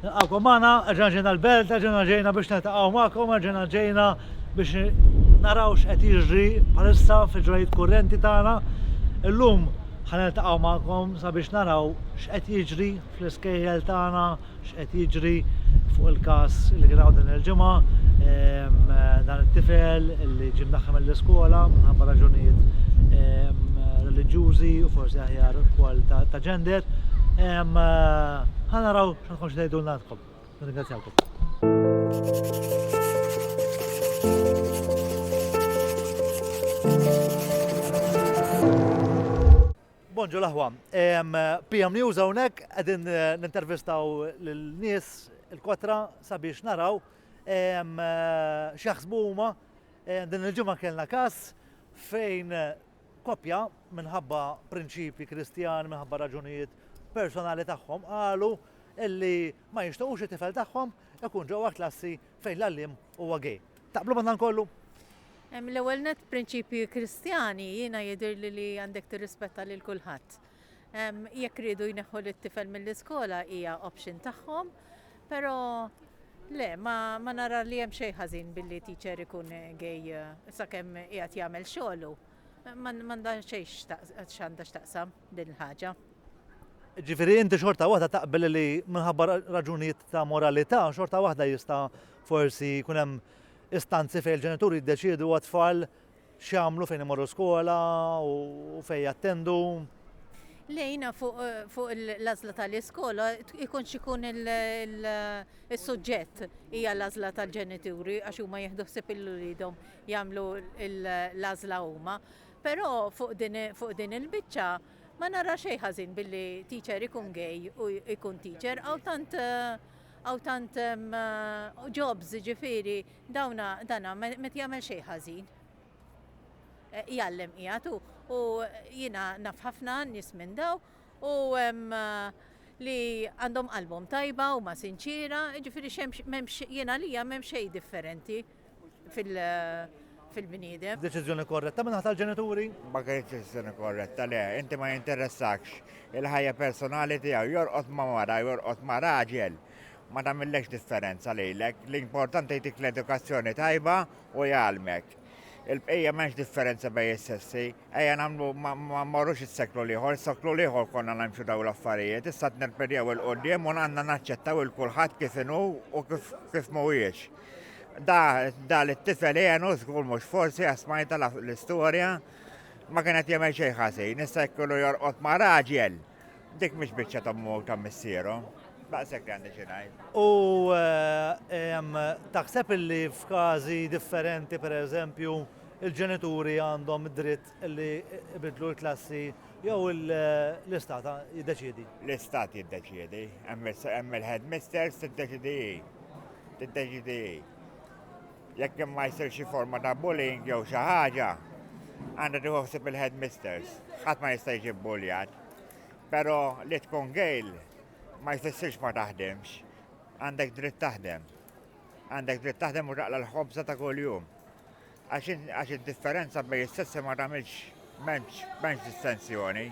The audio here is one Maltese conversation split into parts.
Nilqakom magħna, erġa' ġejna l-belt, erġa' ġejna biex niltaqgħu magħkom, erġa' ġejna biex naraw x'qed jiġri bħalissa fil-ġrajiet kurrenti tagħna. Illum ħa niltaqgħu magħkom sabiex naraw x'qed jiġri fl-iskejjel tagħna, x'qed jiġri fuq il-każ li kien hawn din il-ġimgħa ehm, dan it-tifel li ġie mdaħħem mill-iskola minħabba raġunijiet ehm, reliġjużi u forsi aħjar ukoll ta' ġender. Ehm, Ħa naraw għandkom x'tgħidulna għandkom. Bonġu laħwa, PM News hawnhekk qegħdin eh, nintervistaw l nies il-kotra sabiex naraw eh, x'jaħsbu huma eh, din il-ġimgħa kellna każ fejn Koppja, minħabba prinċipji Kristjani, minħabba raġunijiet personali tagħhom, qalu illi ma jixtiequx it-tifel tagħhom ikun ġewwa klassi fejn l-għalliem huwa gay. Taqblu ma' dan kollu? L-ewwel nett prinċipji Kristjani jiena jidhirli li għandek tirrispetta lil kulħadd. Jekk riedu jneħħu lit-tifel mill-iskola hija option tagħhom, però le, ma, ma nara li hemm xejn ħażin billi teacher ikun gej sakemm qiegħed jagħmel xogħlu. M'għandha xejn x'għandha x'taqsam din il-ħaġa. Ġifieri inti xorta waħda taqbel li minħabba raġunijiet ta' moralità xorta waħda jista' forsi jkun hemm istanzi fejn il-ġenituri jiddeċiedu għat-tfal X'jagħmlu fejn imorru skola u fejn jattendu. Lejna fuq l-għażla tal-iskola ikun x'ikun il-suġġett hija l-għażla tal-ġenituri għax huma jieħdu ħsieb il-ulidhom jagħmlu l-għażla huma. Però fuq din il-biċċa ma nara xejn ħażin billi teacher ikun gay u ikun teacher għaw tant għaw tant jobs ġifieri Dawna, dana met jagħmel xejn ħażin. Jgħallem qiegħed u u jiena naf ħafna nies minn daw u li għandhom qalbhom tajba, huma sinċiera, jiġifieri x'hemmx m'hemmx jien għalija m'hemm xejn differenti fil fil-bniedem. Deċiżjoni korretta min-naħa tal-ġenituri? Ma kinitx deċiżjoni korretta, le. Inti ma jinteressakx il-ħajja personali tiegħu. Jorqod ma' mara, jorqod ma' raġel. Ma tagħmillekx differenza lilek, l-importanti jtik l-edukazzjoni tajba u jgħallmek. Il-bqija m'hemmx differenza bejn is-sessi. Ejja nagħmlu ma mmorrux is-seklu l-ieħor, is-seklu l-ieħor konna nagħmxu dawn l-affarijiet, issa qed nirpedjaw il quddiem u għandna naċċettaw il kulħadd kif inhu u kif kif mhuwiex. Da da li t-tifel għenu żgur mhux forsi għasmajta l-istorja ma kien qed jagħmel xejn ħażin, issa jkollu jorqod ma' raġel. Dik mhix biċċa ta' mhu ta' missierhom. Daqshekk li għandi xi ngħid. U eh, taħseb illi f'każi differenti pereżempju il-ġenituri għandhom dritt li ibidlu l-klassi jew l-istat jiddeċiedi? L-istat jiddeċiedi, hemm il-headmisters tiddeċidi tiddeċidi Jekk hemm ma jsir xi forma ta' bullying jew xi ħaġa, għandha tieħu ħsieb il-headmisters. Ħadd ma jista' jiġi bbuljat. Però li tkun gejl ma jfissirx ma taħdimx. Għandek dritt taħdem. Għandek dritt taħdem u taqla l-ħobża ta' kuljum. Għax id-differenza bejn is-sessi ma tagħmilx m'hemmx distensjoni.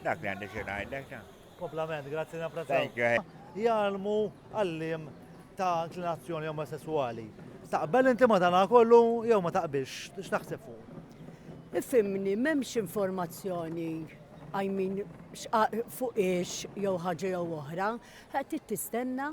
Dak li għandi xi ngħidlek. Komplament, grazzi napprezzaw. Thank you. eh. Jgħalmu għallim ta' inklinazzjoni omosessuali. Taqbel inti ma dana kollu jew ma taqbilx, x'taħseb fuq? Ifimni, m'hemmx informazzjoni I mean, xqa- fuq ix jew ħaġa jew oħra, qed tistenna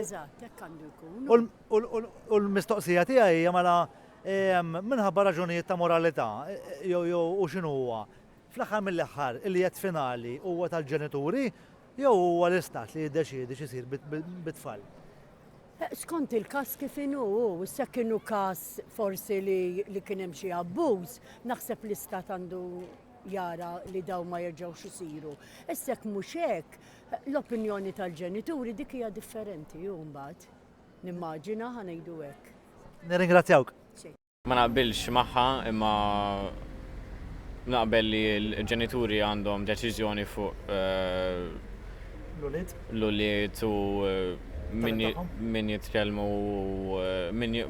Eżatt, hekk għandu jkun. U l-mistoqsija tiegħi hija mela minħabba raġunijiet ta' moralità jew u x'inhu huwa? Fl-aħħar mill-aħħar il-jedd finali huwa tal-ġenituri jew huwa l-istat li jiddeċiedi x'isir bit-tfal? Eh, skont il-kas kif inu, issa kienu kas forsi li kien hemm xi abbuż, naħseb l-istat għandu jara li daw ma jerġgħux isiru. Issek mhux hekk, L-opinjoni tal-ġenituri dik hija differenti hu mbagħad, nimmaġina, ħa ngħidu hekk. Nirringrazzjawk. Ma naqbilx magħha imma naqbel li l-ġenituri għandhom deċiżjoni fuq L-ulied. l-ulied u min Talent tagħhom. min jitkellem u min j-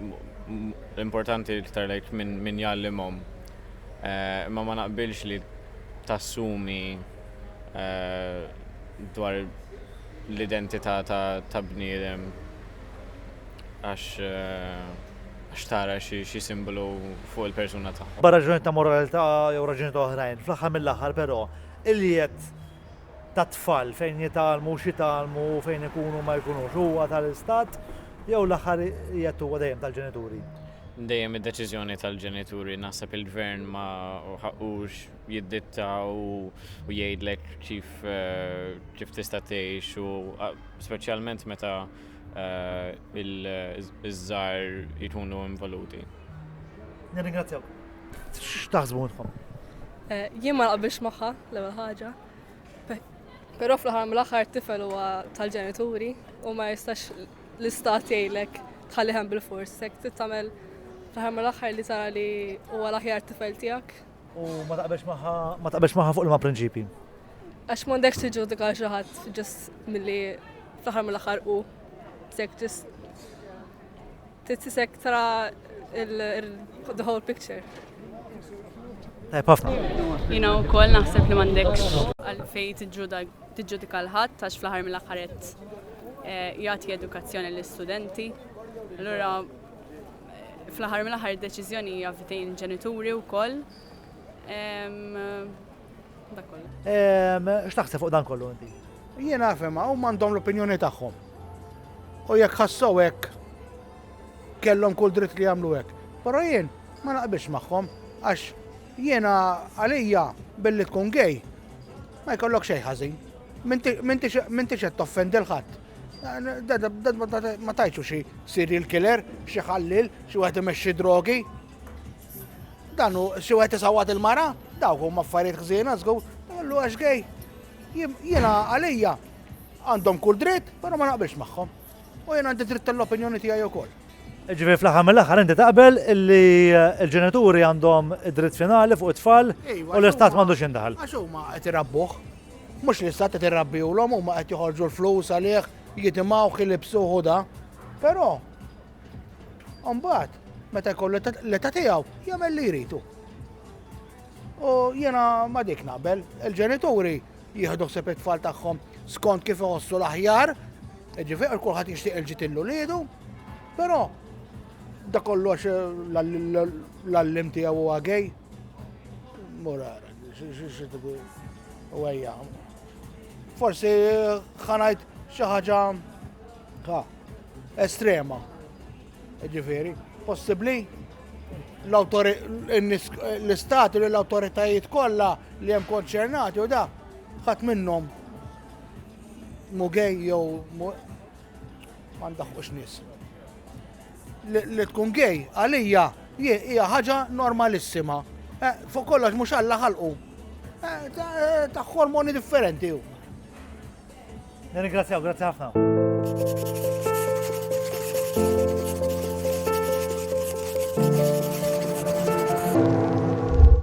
l-importanti iktar like min min jgħallimhom. Imma ma naqbilx li tassumi dwar l-identità ta' bniedem għax għax tara xi simbolu fuq il-persuna tagħha. B'hekk raġunijiet ta' moralità jew raġunijiet oħrajn, fl-aħħar mill-aħħar però, il-jiet tat-tfal fejn jitgħallmu u x'jitgħallmu u fejn ikunu u ma jkunux huwa tal-Istat jew l-aħħar jiet huwa dejjem tal-ġenituri? Dejjem id-deċiżjoni tal-ġenituri. Naħseb il-Gvern ma ħaqqux. jidditta u jgħidlek kif eh, kif tista' tgħix u speċjalment meta eh, iż-żar jkunu involuti. Nirringrazzjaw. X'taħsbu minnkom? Eh, jien ma naqbilx magħha l-ewwel ħaġa. Però fl-aħħar mill-aħħar tifel huwa tal-ġenituri u ma jistax l-istat jgħidlek tħalliħem bil-fors, hekk tagħmel fl-aħħar mill-aħħar li tara li huwa l-aħjar tifel tiegħek U ma taqbelx magħha ma taqbelx magħha fuq il-ma prinċipji. Għax m'għandekx tiġġudika xi ħadd ġust milli fl-aħħar mill-aħħar u sek ġust titisek tra the whole picture. Tajb ħafna. Jina u koll naħseb li mandekx għalfej tiġġudika l-ħadd għax fl-aħħar mill-aħħaret eh, jagħti edukazzjoni l-istudenti. Allura Fl-aħħar mill-aħħar id-deċiżjoni hija f'idejn il-ġenituri wkoll. Dak kollu. X'taħseb fuq dan kollu inti? Jien nafhem hawn m'għandhom l-opinjoni tagħhom. U jekk ħassew hekk kellhom kull dritt li jagħmlu hekk. Però jien ma naqbilx magħhom għax jiena għalija billi tkun gej ma jkollok xejn ħażin. Minti qed toffendi l-ħadd. Ma tajtu xi serial killer, xi ħallil, xi wieħed imexxi drogi. Dan hu xi wieħed isawwat il-mara, dawk huma affarijiet ħżiena żgur, għallu għax gej. Jiena għalija għandhom kull dritt, però ma naqbilx magħhom. U jiena għandi dritt tal-opinjoni tiegħi wkoll. Ġifieri fl-aħħar mill-aħħar inti taqbel li eh, l-ġenituri għandhom id-dritt finali fuq it-tfal u l-istat m'għandux jindaħal. Għax huma qed irabbuh. Mhux li s-sat qed irrabbihulhom huma qed joħorġu l-flus għalih, jitimgħuh, ilibsuh u da. Però mbagħad meta jkollu l-età tiegħu jagħmel li jridu. U jiena ma dik naqbel, il-ġenituri jieħdu ħseb it-tfal tagħhom skont kif iħossu l-aħjar, ġifier kulħadd jixtieq il-ġitillu lidu, però da kollox l-allim tiegħu huwa gej. Murara. Forsi ħanajt xi ħaġa estrema. Ġifieri, possibbli l-istat u l-awtoritajiet kollha li hemm konċernati u da ħadd minnhom mugej jew ma ndaħqux nies. Li tkun gay għalija jien hija ħaġa normalissima. Fuq kollox mhux Alla ħalqu. Ta' hormoni differenti hu. Nirringrazzjaw, grazzi ħafna.